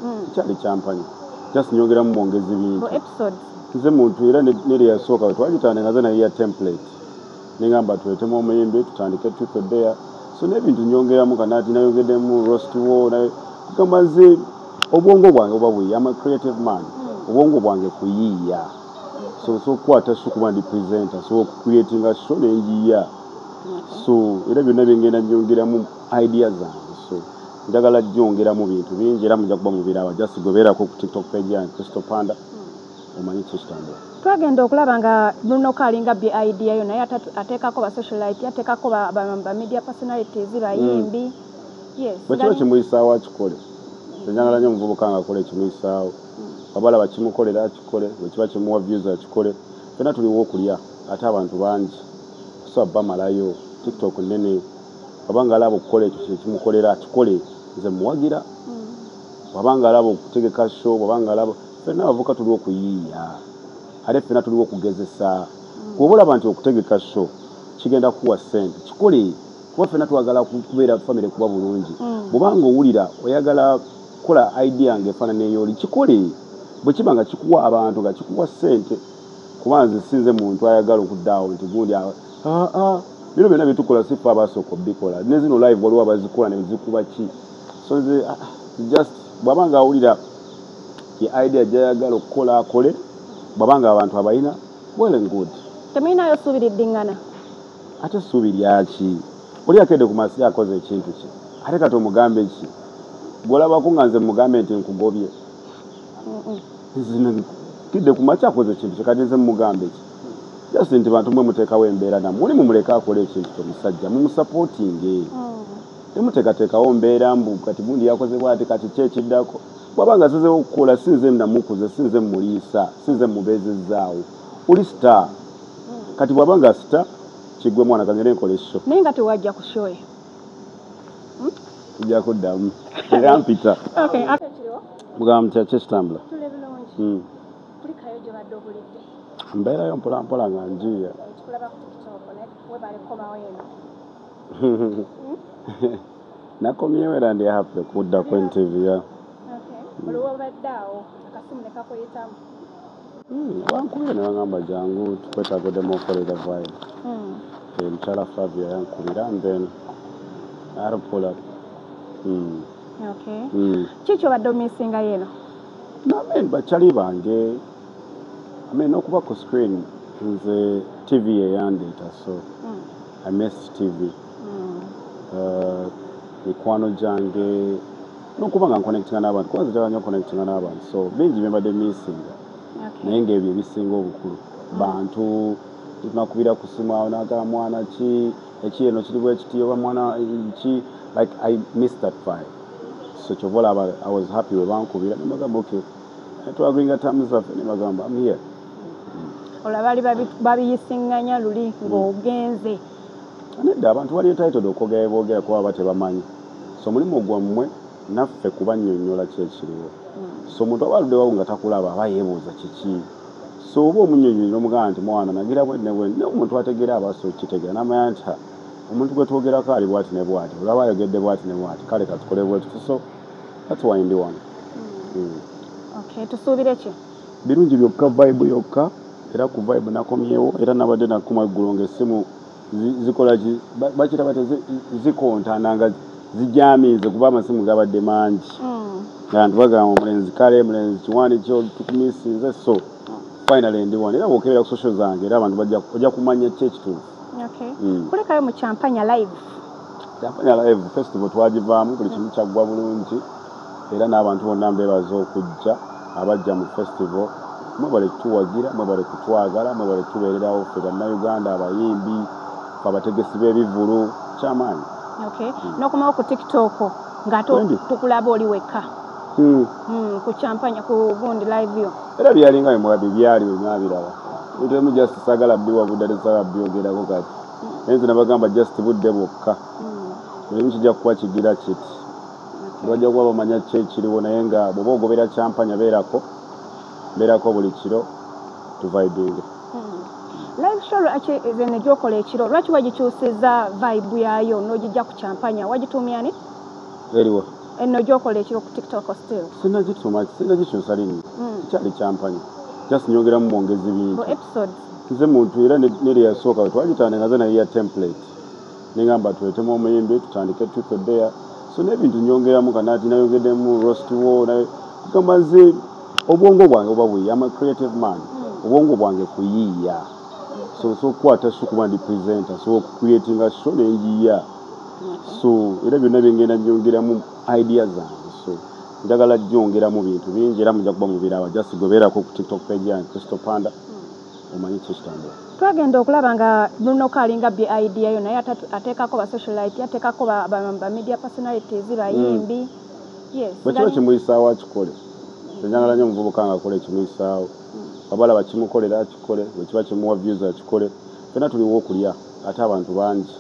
mm. kyali kyampanya just nyongeramu mwongezi bintu nze muntu era neri yasooka wetwagitandika nze naye ya template nengamba tuletemu omuyimbi tutandike tutodeya so nebintu nyongeramu kanati nayongedemu rost wo kugamba nze obwongo bwange oba buyi ama creative man mm. obwongo bwange kuyiiya so sokukwata so kuba ndi presenter so okucreatinga sho nenjiya so era byonna byengenda nyongeramu idea zange so njagala jongera mu bintu bingi era muja kuba mubirawa just goberako ku tiktok page yange crystal panda omanyi kikitambula twagenda okulaba nga munoka alinga bye idea yo naye ateekako ba socialite ateekako ba media personalities bayimbi hmm. bwekiba kimuyisaawo akikole enyagala nyo omuvubuka nga akole ekimuyisaawo hmm. abalaba kimukolera akikole bwekiba kimuwa views akikole fena tuliwo okulya ate abantu bangi so bamalayo tiktok nene waba nga alaba okukola ekyo kyekimukolera akikole nze muwagira mm. waba nga alaba okutegeka sho waba nga alaba fena abavuka tuliwo okuyiiya ate fena tuliwo okugezesa mm. kuba olaba nti okutegeka sho kigenda kuwa sente kikole kuba fena twagala kubeera famire kuba bulungi mm. bwobanga owulira oyagala kukola idea nga efaanana eyoli kikole bwekiba nga kikuwa abantu nga kikuwa sente kuba nze sinze muntu ayagala okudaawo nti gundi aa ah, ah, bino byona byetukola sifa abasooka obikola nezino live waliwo abazikola nezikuba ki so nze ah, just bwaba nga awulira ye idea gyayagala okukola akole bwaba nga abantu abalina well and good temulinayo suubi liddingana ate suubi lyaki oli akedde ku masi akoze ekintu kye ate kati omugambe ki gwolabako nga nze mugambe nti nkugobye zino kidde ku makya akoze ekintu kyekati nze mumugamba eki just nti bantu mwe muteekawo embeera namu oli mumuleke akole ekintu kyo musajja mumusapootinge hmm. temuteekateekawo mbeera mbu kati gundi yakozebwa ati kati ki ekiddako bwaba nga zezewo okukola si nze namukuze si nze muliisa si nze mubeezezzaawo oli star hmm. kati bwaba nga star kigwe mwana kagende nkola esho naye nga tewajja kushoyo tujja kuddamu era mpita mugamba mutya kyekitambula hmm. mbeerayo mpolampola nga njiiya nakomyewo era ndi happy kudda ku ntv ya hmm. wankubira newagamba jangu tukwetaaga odemu okolera vayo omukyala hmm. eh, flavia yankubira and then arpula hmm. hmm. kiki obadde omisingayo eno namen bakyali bange amen okuba ku screen nze tv yeyandeeta so i mess tv eh, mikwano gyange nokuba nga nkonectinga n'abantu kuba nze nyo konectinga n'abantu so bingi byembadde misinga naye ngaebyo ebisinga obukulu bantu tunakubira ku simu awo nagala mwana ki eki eno kiri bwekiti oba mwana ki like i miss that vibe so kyova olaba i was happy webankubira nebagamba ok eh, twagringa tamu zaffe nebagamba am here olaba bali babiyisinganya luli ng'ogenze Nedda, abantu bali entitled okwogera bye boogera kuba baba tebamanyi so mulimu gwammwe naffe kubannyonnyola ki ekiriwo so omuntu aba aludde wa nga takulaba aba yeebuuza kiki so oba omunnyonnyonyi n'omugamba nti mwana nagira bwe ne bwe naye omuntu ategeera aba asobola okitegeera n'amanya nti ha omuntu gwe twogerako ali bwati ne bwati olaba ayogedde bwati ne bwati kale katukole bwe tuti so that's why ndi wano hmm. Hmm. okay tusuubire ki Birungi byokka vibe yokka era ku vibe nakomyewo era nabadde nakumwa eggulo nga essimu zikola ki bakira bata zikontana nga zijamiize kuba amasimu gabadde mangi hmm. nga nti bagamba omulenzi kale mulenzi kiwani kyo tukumisinze so finally ndi wano era bwokebera ku social zange era abantu ojja kumanya ki ekituufu hmm. kulekayo mu champanya live champanya live festival twagivaamu buli kimu kyaggwa bulungi era n'abantu bonna mbeebaza okujja abajja mu Festival, mwebale kutuwagira, mwebale kutwagala, mwebale kutubeererawo ffe Bannayuganda, abayimbi, ffe abategesi b'ebivvulu, kyamaanyi. Okay. Mm. Nokomawo ku TikTok nga tukulaba oli wekka. Mm. Mm, ku champagne ku gundi live yo. Era byalinga bimwa bibyali bimwa biraba. Bintu emu just sagala biwa budade sagala byogera ko kati. Mm. Enzi nabagamba just budde bokka. Mm. Ebimu kijja kuwa kigira kiti. bajja kuba bamanya ki ekiriwo naye nga bwoba ogobera kyampanya beerako beerako buli kiro tuvibinge hmm. live show lwaki zene gyokola ekiro lwaki wagikyusiza vibe yayo nogijja ku kyampanya wagituumyani eriwa enno gyokola ekiro ku tiktok still sinagituma sinagikyusa linnya hmm. kyali kyampanya just nyongeramu mwongezi bintu nze muntu era nereyasooka wetwagitandika nze naye ya template Nengamba tuletemu omuyimbi tutandike truth or dare so nebintu nyongeramu kanati nayongedemu roast wo naye kugamba nze obwongo bwange oba buyiya ama creative man hmm. obwongo bwange kuyiiya so osobola okukwata sho kuba ndi presenter so okucreatinga sho nenjiya so era byonna byengenda nyongeramu idea zange so njagala jongeramu bintu bingi era muja kuba mubirawa just gobeerako ku tiktok page yange crystal panda omanyi kiki kitambula. Twagenda okulaba nga munoka alinga bby idea yo naye atekako ba socialite atekako ba, ba, ba media personalities hmm. bayimbi mm. yes, bwekiba kimuyisaawo akikole enjangala nyo omuvubuka nga akola ekimuyisaawo hmm. abalaba kimukolera akikole bwekiba kimuwa views akikole fena tuliwo okulya ate abantu bangi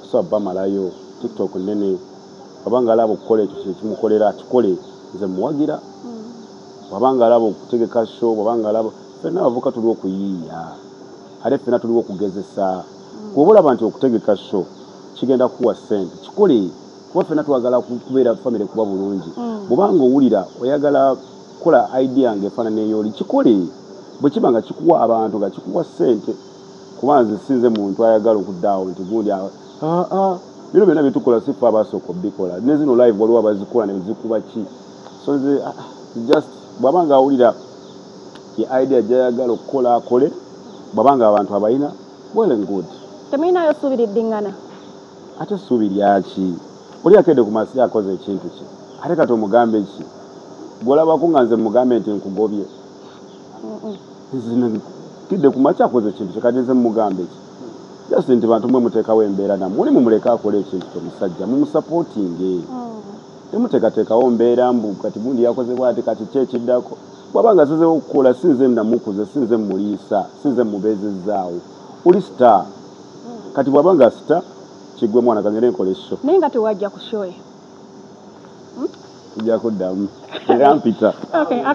kusa bamalayo tiktok nene wabanga alaba okukola ekyo kyekimukolera akikole nze muwagira hmm. wabanga alaba okutegeka show wabanga alaba Ffenna abavubuka tuli okuyiiya ate ffenna tuliwo okugezesa. Bw'oba olaba nti okutegeka sho kigenda kukuwa ssente kikole kuba ffenna twagala kubeera famire kuba bulungi. Mm. Bw'oba ng'owulira oyagala kukola idea ng'efaanana ey'oli kikole bwe kiba nga kikuwa abantu nga kikuwa ssente kuba nze sinze muntu ayagala okuddaawo nti gundi aa ah, ah, ah, bino byonna byetukola si ffe abaasooka obikola ne zino live waliwo abazikola ne zikuba ki so nze just bw'aba ng'awulira ye idea jayagala okukola akole bwaba nga abantu abayina well and good temuyinayo suubi liddingana ate suubi lyaki oli akedde ku masiya akoze ekintu kye ate kati omugambe ki gwolabako nga nze mugambe nti nkugobye kidde ku makya akoze ekintu kye kati nze mugambe ki just nti bantu mwe muteekawo embeera namwe oli mumuleke akole ekintu kye musajja mumusapootinge mm. Temuteekateekawo mbeera mbu kati gundi yakoze bwati kati ki ekiddako. Bw'aba nga asazeewo okukola si nze nnamukuza, si nze mmuliisa, si nze mmubeezezzaawo. Oli star. Kati bw'aba nga asita ki ggwe mwana ka ngende nkole show. Naye nga tewajja ku show eyo. Tujja kuddamu era mpita.